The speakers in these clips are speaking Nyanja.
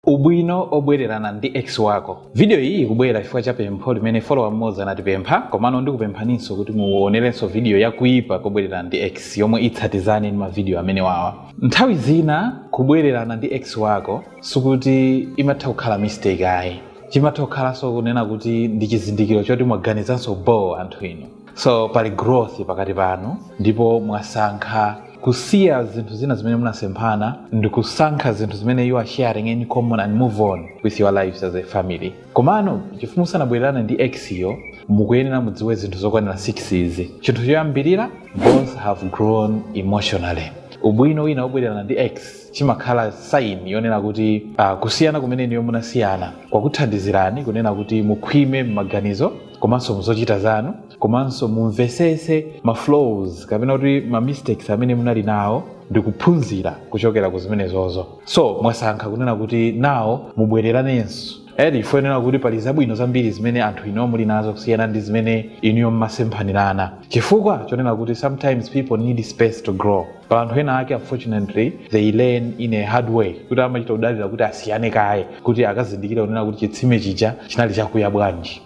Ubwino Obwelelana ndi Ex Wako. Vidiyo iyi ikubwela chifukwa cha pempho limene follower mmodzi anatipempha, komano ndikupemphaninso kuti muonelenso vidiyo ya Kuipa Kobwelelana ndi Ex yomwe itsatizane ndi mavidiyo amenewawa. Nthawi zina kubwelelana ndi ex wako sikuti imatha kukhala mistake ayi. Chimatha kukhalanso kunena kuti ndi chizindikilo choti mwaganizanso bhoo anthu inu. so pali growth pakati panu ndipo mwasankha kusiya zinthu zina zimene munasemphana ndikusankha zinthu zimene you are sharing in common and move on with your lives as a family komano chifukwa musanabwererane ndi ex yo mukuyenera mudziwe zinthu zokwanira 6 izi chinthu choyambirira both have grown emotionally ubwino wina wobwererana ndi ex chimakhala sign yonena kuti uh, kusiyana kumene inuyo munasiyana kwakuthandizirani kunena kuti mukhwime m'maganizo komanso muzochita zanu komanso mumvesese ma flaws kapena kuti ma mistakes amene munali nawo ndikuphunzira kuchokera ku zimenezozo so mwasankha kunena kuti now mubwereranenso eti chifukwa chonena kuti pali zabwino zambiri zimene anthu inu muli nazo kusiyana ndi zimene inuyo mmasemphanirana chifukwa chonena kuti sometimes people need space to grow pali anthu ena ake unfortunately they learn in a hard way kuti amachita kudalira kuti asiyane kaye kuti akazindikire kunena kuti chitsime chija chinali chakuya bwanji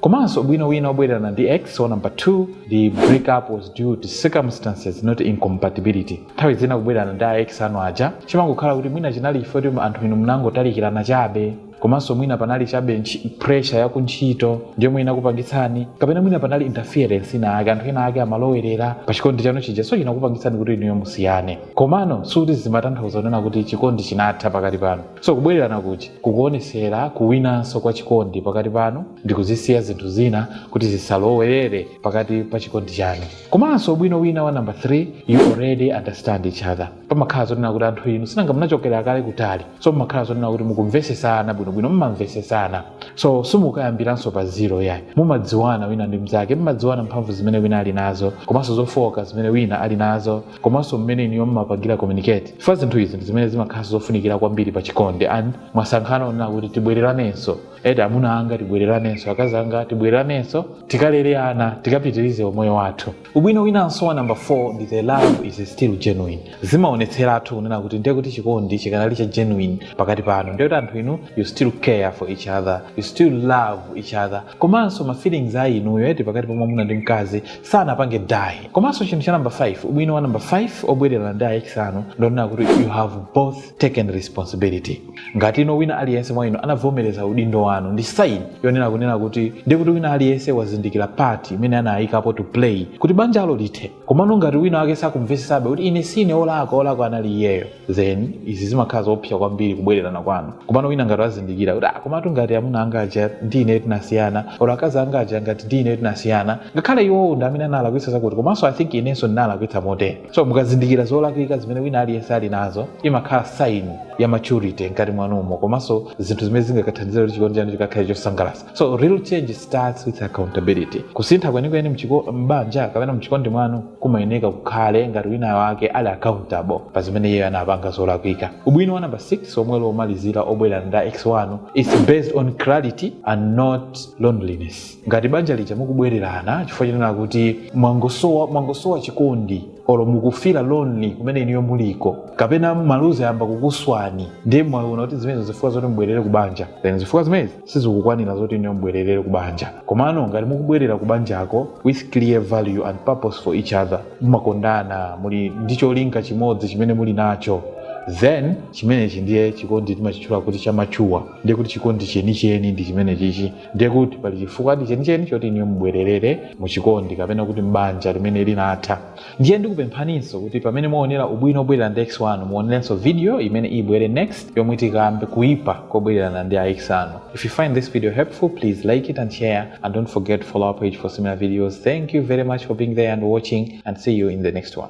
komanso ubwino wina wobwererana ndi ex wa number 2 the breakup was due to circumstances not incompatibility nthawi zina kubwererana ndi a ex anu aja chimangokhala kuti mwina chinali chifukwa kuti anthu inu munangotalikirana chabe komanso mwina panali chabe ntchi- pressure ya kuntchito ndi yomwe inakupangitsani kapena mwina panali interference ina ake anthu ena ake amalowerera pa chikondi chanu chija so chinakupangitsani kuti inuyo musiyane komano suti zimatanthauza kunena kuti chikondi chinatha pakati panu so kubwererana kuti kukuonesera kuwinanso kwa chikondi pakati panu ndi kuzisiya zinthu zina kuti zisalowerere pakati pa chikondi chanu komanso ubwino wina wa number 3 you already understand each other pamakhala zonena kuti anthu inu si nanga munachokera kale kutali so mumakhala zonena kuti mukumvesesana bwinobwino mumamvesesana so simukayambiranso pa zero yayi mumadziwana wina ndi mnzake mumadziwana mphamvu zimene wina ali nazo komanso zofooka zimene wina ali nazo komanso mmene inuyo mumapangira communicate chifukwa zinthu izi ndi zimene zimakhala zofunikira kwambiri pa chikondi and mwasankhana kunena kuti tibwereranenso eti amuna anga tibwereranenso akazi anga tibwereranenso tikalere ana tikapitirize umoyo wathu Ubwino winanso wa number 4 ndi the love is still genuine. Zimaonetseratu kunena kuti ndiye kuti chikondi chikanali cha genuine pakati panu. Ndiye kuti anthu inu you still care for each other, you still love each other. Komanso ma feelings a inuyo eti pakati pa mwamuna ndi mkazi sanapange die. Komanso chinthu cha number 5, ubwino wa number 5 obwererana ndi a ex anu ndonena kuti you have both taken responsibility ngati ino wina aliyense mwa inu anavomereza udindo wanu ndi sign yonena kunena kuti ndiye kuti wina aliyense wazindikira part imene anayikapo to play kuti banjalo lithe komano ngati wina wake sakumvesesabe kuti ine sine olakwa olakwa anali iyeyo then izi zimakhala zoopsa kwambiri kubwererana kwanu komano wina ngati wazindikira kuti ah, komatu ngati amuna anga aja ndi ine tinasiyana olo akazi anga aja ngati ndi ine tinasiyana ngakhale iwowo ndi amene analakwitsa zakuti komanso i think inenso ndinalakwitsa motere so mukazindikira zolakwika zimene wina aliyense ali nazo imakhala sign ya maturity mkati mwanumo komanso zinthu zimene zingakathandizira kuti chikondi chanu chikakhale chosangalatsa so real change starts with accountability kusintha kwenikweni mchiko- m'banja kapena mchikondi mwanu kumayeneka kukhale ngati wina wake ali accountable pa zimene iyeyo anapanga zolakwika ubwino wa namba 6 omwe uli womalizira obwererana ndi ex wanu is based on clarity and not loneliness ngati banja lija mukubwererana chifukwa chonena kuti mwangosowa mwangosowa chikondi olo mukufila lonely kumene inuyo muliko kapena maluzi ayamba kukuswani ndiye mwaona kuti zimenezo zifukwa zoti mubwerere ku banja then zifukwa zimenezi sizikukwanira zoti inuyo mubwererere ku banja komano ngati mukubwerera ku banjako with clear value and purpose for each other mumakondana muli ndi cholinga chimodzi chimene muli nacho then chimenechi ndiye chikondi timachitchula kuti chamachuwa ndiye kuti chikondi chenicheni ndi chimenechichi ndiye kuti pali chifukwadi chenicheni choti inuyo mubwererere mu chikondi kapena kuti m'banja limene linatha ndiye ndikupemphaninso kuti pamene mwaonera ubwino obwererana ndi ex wanu muonerenso video imene ibwere next yomwe tikambe kuipa kobwererana ndi a ex anu if you find this video helpful please like it and share and don't forget to follow our page for similar videos thank you very much for being there and watching and see you in the next one